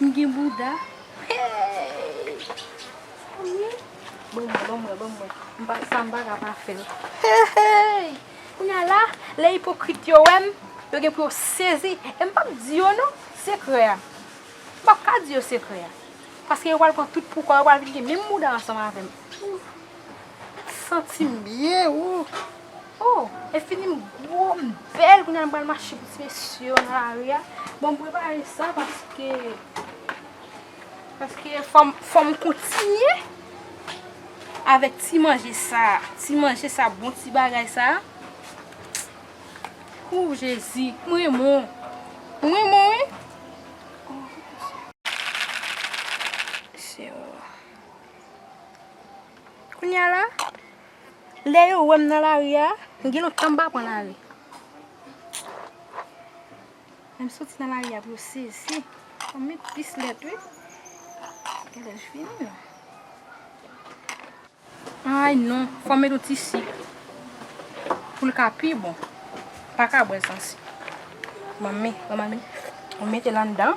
M gen bouda heeyy. Ban mwen ban mwen ban mwen m pa sa m pa ka pa fè l heeyy. Kounya la lè ipokrit yo wè m yo gen pou yo sezi e m pap di yo non sekrè a. M pap ka di yo sekrè a paske yo pral pran tout poukò yo pral vin gen menm bouda ansanm avè m. Santi m byen ooh. Oh enfini m gwo m bèl kounya m pral mache pou ti mesye yo nan lari a bon m prepare sa paske paske fò m kontinye avèk ti manje sa ti manje sa bon ti bagay sa ooh jezi m renmen w m renmen w wi mesye yo kounya la Lè yo wè m nan lari a, gen lontan m pa pran lari. Lè m soti nan lari a pou yo sezi, yo met plis lèt wi. Gen lè l fini menm. Ay non, fò m met yon ti sik pou l ka pi bon. M pa ka bwè l san sik. Manmi, mwen mete l anndan.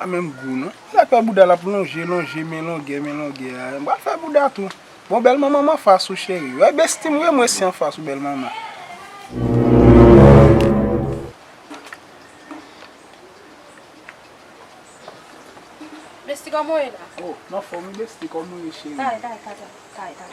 An menm gou non. Li la fè bouda lap lonje lonje men longè men longè a. M pral fè bouda tou. Bon bèl manman m anfas ou cheri. Wè besti m remwe si anfas ou bèl manman. Besti kòman w ye la? Oh m anfòm wi besti kòman w ye cheri. Kay kay kay kay kay.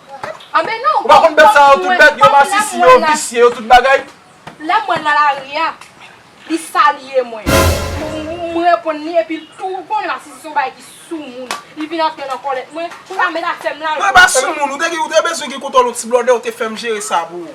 Ou pa konn bèt sa yo tout bèt yo masisi yo visye yo tout bagay. Lè mwen nan lari a li salye mwen m reponn li epi tou ou konnen masisi son bagay ki soumoun li vin antre nan kòlèt mwen pou l ame zafè m la. Mwen pa soumoun ou te bezwen gen kontòl yon ti blòdè ou te fè m jere sa pou ou.